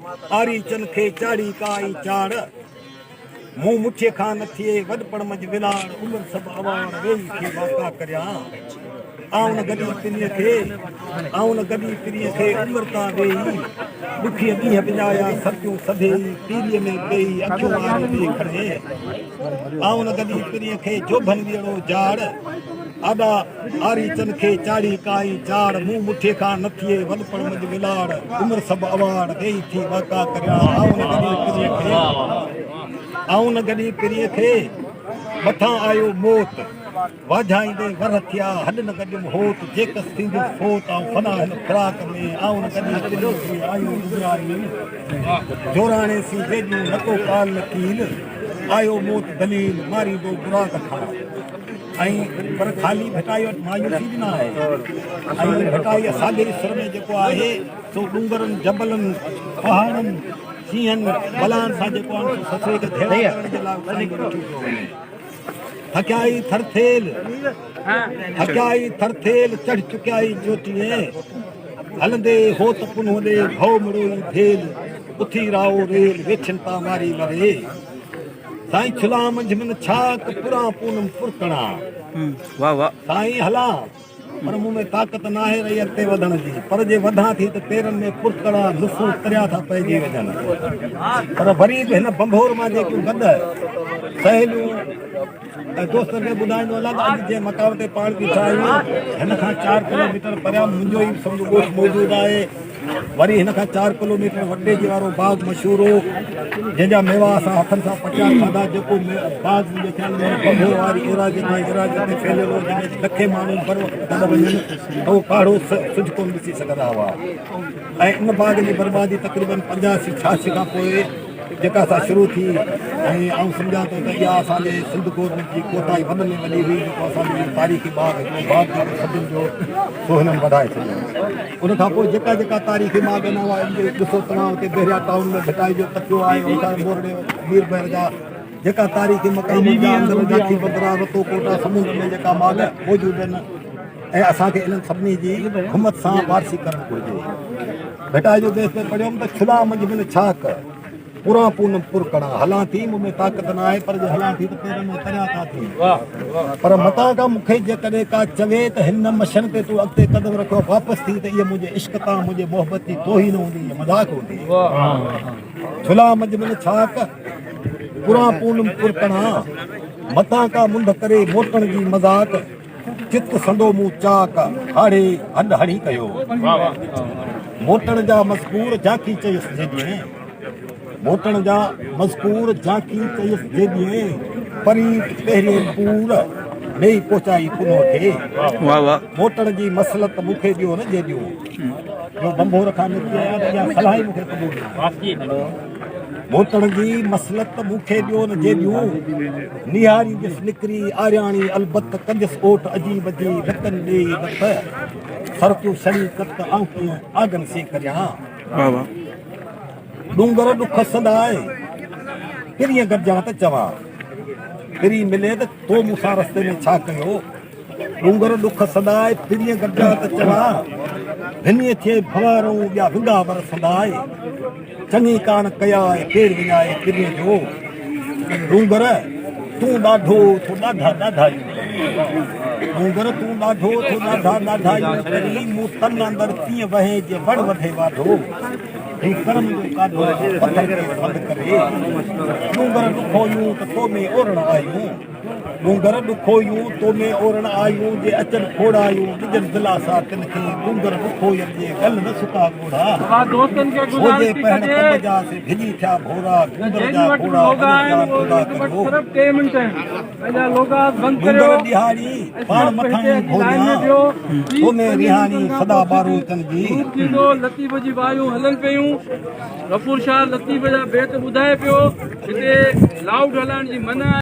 آريچن کي چاڙهي ڪا اي چاڙ، مون مٺيء کان نه ٿئي وڏپڻ منجھ ولاڙ، عمر سڀ اوهاڻ ويهي کي واڪا ڪريان، آئون گڏي پرينء کي، آئون گڏي پرينء کي، عمر تان ويهي، ڏکيء ڏينهن وڃايا، سرتيون سڀيئي، پيريء ۾ پيئي، اکيون آري ڏي کڻي، آئون گڏي پرينء کي، جوڀن ويڙهو جاڙ، آڏا. آريچن کي چاڙهي ڪائين چاڙ، مون مٺي کان نه ٿئي وڏپڻ منجھ ولاڙ، عمر سڀ اواڙ، ڏيئي ٿي واڪا ڪريان، آئون نه گڏي پرينء کي، آئون نه گڏي پرينء کي، مٿان آيو موت، واجهائيندي ورهه ٿيا، هڏ نه گڏيم هوت، جيڪس ٿيندس فوت، آئون فنا هن فراق ۾، آئون نه گڏي پرينء کي، آيون ڏڄايين، جوراڻي سين ويڄون، نه ڪو قال نه قيل، آيو موت دليل، ماريندو براق کان. ۽ پر خالي ڀٽائي وٽ مايوسي به نه آهي ۽ ڀٽائي اسانجي سر ۾ جيڪو آهي سو ڏونگرن، جبلن، پهاڙن، شينهن، بلائن سان جيڪو آهي سو سسئي کي ڌيڙا ڪرڻ جي لاء اٿاريندو ڏٺو پيو وڃي. ٿڪيائي ٿرٿيل، ٿڪيائي ٿرٿيل، چڙهه چڪيائي چوٽيء، هلندي هو ته پنهون ڏي، ڀؤ مڙوئي ڀيل، اٿي راهو ريل، ويڇن تان واري لري. سائين کلان منجھ من ڇاڪ پران پونم پرتڻا واھ واھ سائين هلان پر مون ۾ طاقت نه آهي رهي اڳتي وڌڻ جي پر جي وڌان ٿي ته پيرن ۾ پرتڻا نسون تريا ٿا پئجي وڃن پر وري به هن بنڀور مان جيڪيون گڏ سهيليون ۽ دوستن کي ٻڌائيندو هلان ته اڄ جنهن مقام تي پاڻ بيٺا آهيون هن کان چار ڪلوميٽر پريان منهنجو ئي سمجهه ڳوٺ موجود آهي وري هن کان چار ڪلو ميٽر وٽي جي وارو باغ مشهور هو جنهن جا ميوا اسان هٿن سان پٽيا کاڌا جيڪو باغ منهنجي خيال ۾ بگهو واري ايراضي کان ايراضي تي ڦهليل هو جنهن ۾ لکين ماڻهو هر وقت گڏ وڃن ته هو ڪاڙهو سج ڪونه ڏسي سگهندا هئا ۽ ان باغ جي بربادي تقريبن پنجاسي ڇهاسي کان پوء جيڪا سا شروع ٿي ۽ آئون سمجهان ٿو ته اها اسان جي سنڌ گورنمينٽ جي ڪوتاهي وڏ ۾ وڏي هئي جيڪو اسان جو اهو تاريخي باغ هڪڙو باغ جيڪو صدين جو سو هنن وڌائي ڇڏيو ان کان پوء جيڪا جيڪا تاريخي باغ آهن اها ڏسو توهان اتي بحريا ٽائون ۾ ڀٽائي جو تڪيو آهي ان کان مورڙي مير بحر جا جيڪا تاريخي مقام جا اندر جاکي بدرا رتو ڪوٽا سمنڊ ۾ جيڪا باغ موجود آهن ۽ اسان کي انهن سڀني جي همت سان وارثي ڪرڻ گهرجي. ڀٽائي جو بيت ۾ پڙهيم ته ڇلا منجهه بن ڇاڪ، پران پونم پر ڪڙان، هلان ٿي مون ۾ طاقت نه آهي پر جي هلان ٿي ته پيرن ۾ تريا ٿا ٿين. پر متان ڪا مون کي جيڪڏهن ڪا چوي ته هن مشن تي تون اڳتي قدم رکيو واپس ٿي ته اها منهنجي عشق تان منهنجي محبت جي توهين هوندي يا مذاق هوندي. ڇلا منجهه بن ڇاڪ، پران پونم پر ڪڙان، متان ڪا منڍ ڪري موٽڻ جي مذاق، چت سندو مون چاڪ هاڙهي هڏ هڻي ڪيو. موٽڻ جا مذڪور جاکي چيس جي ڏينهين. موٽڻ جا مذڪور جاکي چيس جي ڏينهين. پريت پهرين پور ڏيئي پهچائي پنهو کي. موٽڻ جي مصلحت مون کي ڏيو نه جي ڏيون. جو ڀنڀور کان نڪري آيا ته اها صلاح ئي مون کي قبول ناهي. ڀوتڻ جي مصلحت مون کي ڏيو نه جيڏيون نهاري جس نڪري آرياڻي البت ڪنديس اوٽ عجيب جي لڪن ڏيئي لٿ سرتيون سڙي ڪت آئون ڪيئن آگن سي ڪريان ڏونگر ڏک سنداء پرين گڏجان ته چوان پرين ملي ته تو مون سان رستي ۾ ڇا ڪيو ڏونگر ڏک سدائي ڦرين گڏجا ته چڙا، ڀني ٿئي ڀوارئون ٻيا ونگا ور سدائي، چڱي ڪاڻ ڪيا آهي ڪير وڃائي پرين جو، ڏونگر تون ڏاڍو ٿو ڏاڍا ڏاڍايون ڪرين، ڏونگر تون ڏاڍو ٿو ڏاڍا ڏاڍايون ڪرين، مون تن اندر تيئن وهين جيئن وڻ وڌي واڍو، هن ڪرم جو ڪاڍو پٿر کي سڏ ڪري، ڏونگر ڏکويون ته تو ۾ اورڻ آيون. ڏونگر ڏکويون تو ۾ اورڻ آيون، جي اچن کوڙايون ڏجن دلاسا تن کي، ڏونگر ڏکوين جي ڳل نه سڪا ڳوڙها، سوجهي پهڻ ڪنڀ جا سي ڀڄي ٿيا ڀورا، ڏونگر جا گهوڙا وڃي جان ٿورا ڪريو، ڏونگر ڏيهاڙي پاڻ مٿاهين ڀوريان، تو ۾ ريهاڻي سدا ٻارون تن جي. روپ ٿيندو لطيف جي وايون هلن پيون غفور شاهه لطيف جا بيت ٻڌائي پيو. هتي لائوڊ هلائڻ جي منع آهي.